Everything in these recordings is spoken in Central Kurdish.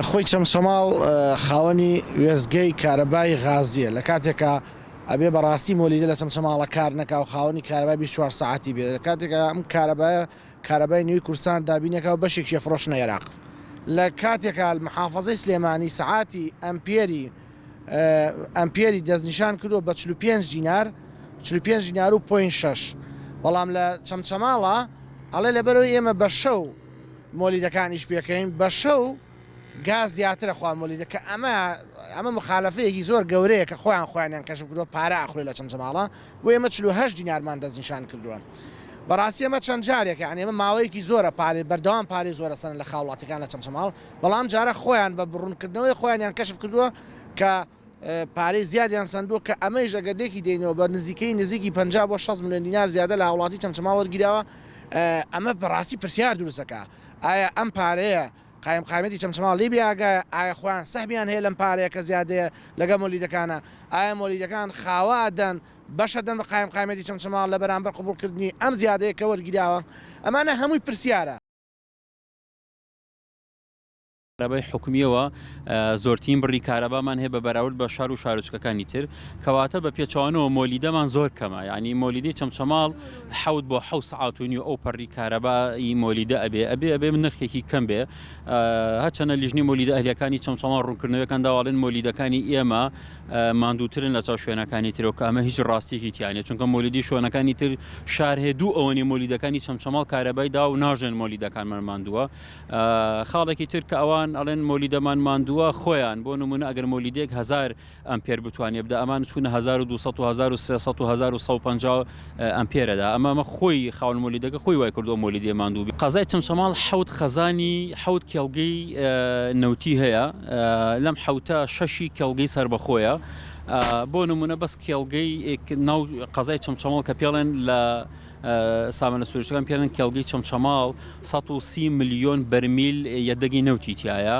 خۆی چەمچەماڵ خاوەنی وێزگەی کارەبای غازیە لە کاتێکە ئەبێ بەڕاستی مۆلیدە لە چەمچەماڵە کار نەکا و خاوەنی کارەبای 24 ساعتی بێت لە کاتێکە ئەم کارەبای کارەبای نوێی کورسان دابینەکە و بەشێکی فرۆشنە عێراق لە کاتێکال محافظەی سلێمانی سعاتی ئەمپێری ئەمپێری دەستنیشان کردووە بە چل و پێنج دینار چل و پێنج دینار و پۆین شەش بەڵام لە چەمچەماڵە ئەڵێ لەبەرەوەی ئێمە بە شەو مۆلیدەکانیش پێکەین بە شەو گاز زیاترە خوا مۆلیدە کە ئەمە ئەمە مخالفەیەکی زۆر گەورەیە کە خۆیان خۆیانیان کەشف کردووە پارە ئاخۆی لە چەمچەماڵە بۆ ئێمە چل و هەشت دینارمان دەستنیشان کردووە. بەڕاستی ئەمە چەند جارێکە ئەنێمە ماوەیەکی زۆرە پارێ بەردەوام پارێ زۆرە سەن لە خاوڵاتەکان لە چەمچەماڵ بەڵام جارە خۆیان بە بڕونکردنەوەی خۆیانیان کەشف کردووە کە پارەی زیادیان سەندووە کە ئەمەیش ئەگەر لێکی دەینەوە بە نزیکەی نزیکی پەنجا بۆ شەست ملیۆن دینار زیادە لە هاوڵاتی چەمچەماڵ وەرگیراوە ئەمە بەڕاستی پرسیار دروست دەکا ئایا ئەم پارەیە قایم قایمەتی چەمچەماڵ لێ بێئاگایە ئایا خۆیان سەهمیان هەیە لەم پارەیە کە زیادەیە لەگەڵ مۆلیدەکانە ئایا مۆلیدەکان خاوا دەن بەشە دەن بە قایم قایمەتی چەمچەماڵ لە بەرامبەر قبوڵکردنی ئەم زیادەیە کە وەرگیراوە ئەمانە هەمووی پرسیارە کارەبای حکومییەوە زۆرترین بڕی کارەبامان هەیە بە بەراورد بە شار و شارۆچکەکانی تر کەواتە بە پێچوانەوە مۆلیدەمان زۆر کەمە یعنی مۆلیدی چەمچەماڵ حوت بۆ حو سعات و نیو ئەو پەڕی کارەبایی مۆلیدە ئەبێ ئەبێ ئەبێ من نرخێکی کەم بێ هەچەنە لیژنی مۆلیدە ئەهلەکانی چەمچەماڵ ڕوونکردنەوەکان داواڵێن مۆلیدەکانی ئێمە ماندووترن لە چاو شوێنەکانی ترەوە کە ئەمە هیچ ڕاستیەکی تیا نیە چونکە مۆلیدی شۆنەکانی تر شار هەیە دوو ئەوەنی مۆلیدەکانی چەمچەماڵ کارەبای دا و ناژێن مۆلیدەکانمان ماندووە خاڵێکی تر کە ئەوان ئەڵێن مۆلیدەمان ماندووە خۆیان بۆ نمونە ئەگەر مۆلیدێک هزار ئەم پێر بتوانێ بدا ئەمان چوونە 1200 و 1300 و 1950 ئەمپێرەدا ئەمە ئەمە خۆی خاوەن مۆلیدەکە خۆی وای کردووە مۆلیدێ ماندوو بێ. قەزای چەمچەماڵ حەوت خەزانی حەوت کێڵگەی نەوتی هەیە لەم حەوتە شەشی کێڵگەی سەربەخۆیە بۆ نموونە بەس کێڵگەی ناو قەزای چەمچەماڵ کە پێڵێن لە سامانە سروشتەکان پێڵێن کێڵگەی چەمچەماڵ 130 ملیۆن بەرمیل یەدەگی نەوتی تایە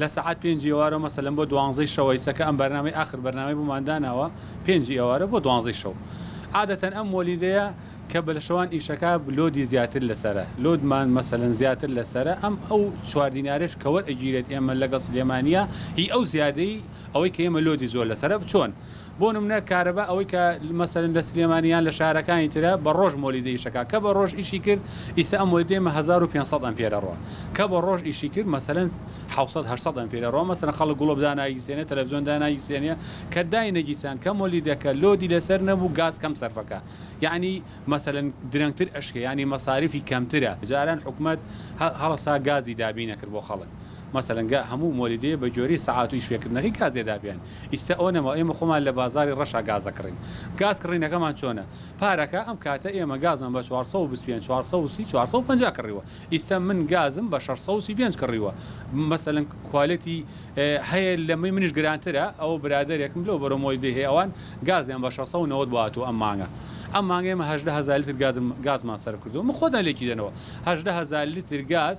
لە سەعات پێنجی ئێوارە مەسەلەن بۆ دوانزەی شەوەی سەکە ئەم بەرنامی ئاخر بەرنامی بۆمان داناوە پێنجی ئێوارە بۆ دوانزەی شەو عادەتەن ئەم وەلیدەیە کە بە لە شەوان ئیشەکە لۆدی زیاتر لەسرە لۆدمان مەسەلەن زیاتر لەسرە ئەم ئەو چواردینارێش کەوەر ئەگیرێت ئێمە لەگەڵ سلێمانە هی ئەو زیادەی ئەوەی کە ئێمە لۆدی زۆر لەسرە بچۆن بۆ نمونە کارەبا ئەوەی کە مەسەلەن لە سلێمانی یان لە شارەکانی ترە بە ڕۆژ مۆلیدە ئیشەکا کە بە ڕۆژ ئیشی کرد ئیسە ئەم مۆلیدەی مە هەزار و پێنج سەد ئەمپێرە ڕۆ کە بە ڕۆژ ئیشی کرد مەسەلەن حەوت سەد هەشت سەد ئەمپێرە ڕۆ مەسەلەن خەڵک گڵۆپ داناگیسێنێ تەلەفزیۆن داناگیسێنێ کە داینەگیسان کە مۆلیدەکە لۆدی لەسەر نەبوو گاز کەم سەرفەکا یانی مەسەلەن درەنگتر ئەشکێ یانی مەساریفی کەمترە جاران حکومەت هە هەڵەسا گازی دابینەکرد بۆ خەڵک مەسەلەن گا هەموو مۆلیدەیە بە گۆری سەعات و ئیش پێکردنەکەی گازێ دا پێیان ئیستا ئەوە نەما ئێمە خۆمان لە بازاری ڕەشا گاز دەکڕین گاز کڕینەکەمان چۆنە پارەکە ئەم کاتە ئێمە گازمان بە چوار سەد و بیست و پێنج چوار سەد و سی چوار سەد و پەنجا کڕیوە ئیستا من گازم بە شەش سەد و سی و پێنج کڕیوە مەسەلەن کوالێتی هەیە لەمەی منیش گرانترە ئەوە برادەرێکم لەو بەرەو مۆی دێ ئەوان گازیان بە شەش سەد و نەوەد بۆ هاتووە ئەم مانگە ئەم مانگە ئێمە هەژدە هەزار لیتر گازم گازمان سەرف کردووە من خۆتان لێکی دەنەوە هەژدە هەزار لیتر گاز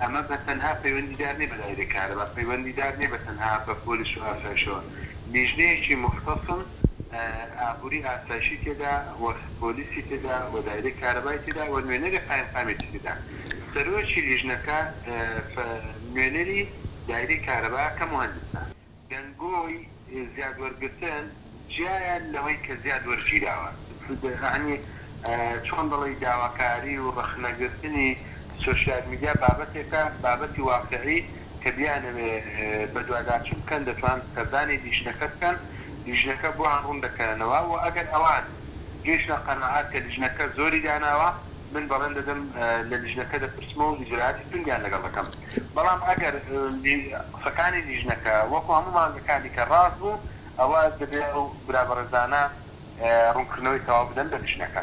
ئەمە بە تەنها پەیوەندیدار نیە بە دایرەی کارەبا، پەیوەندیدار نیە بە تەنها بە پۆلیس و ئاسایشەوە، لیژنەیەکی موختەسم، ئابوری ئاسایشی تێدا و پۆلیسی تێدا و دایرەی کارەبای تێدا و نوێنەری قایمقامیەتی تێدا، سەرۆکی لیژنەکە نوێنەری دایرەی کارەبا کە موهەندیسە. دەنگۆی زیاد وەرگرتن جیایە لەوەی کە زیاد وەرگیراوە. یەعنی چۆن دەڵێی داواکاری و ڕەخنەگرتنی سۆشیال میدیا بابەتێکە، بابەتی واقعی کە بیانەوێ بەدواداچون بکەن دەتوان سەردانی لیژنەکە بکەن، لیژنەکە بۆیان ڕون دەکەنەوە و ئەگەر ئەوان گەیشتنە قەناعەت کە لیژنەکە زۆری داناوە من بەڵێن دەدەم لە لیژنەکە دەپرسمەوە و ئیجرائاتی توندیان لەگەڵ دەکەم. بەڵام ئەگەر قسەکانی لیژنەکە وەکو هەموو مانگەکانی کە ڕاست بوو ئەوا دەبێت ئەو برا بەڕێزانە ڕوونکردنەوەی تەواو بدەن بە لیژنەکە.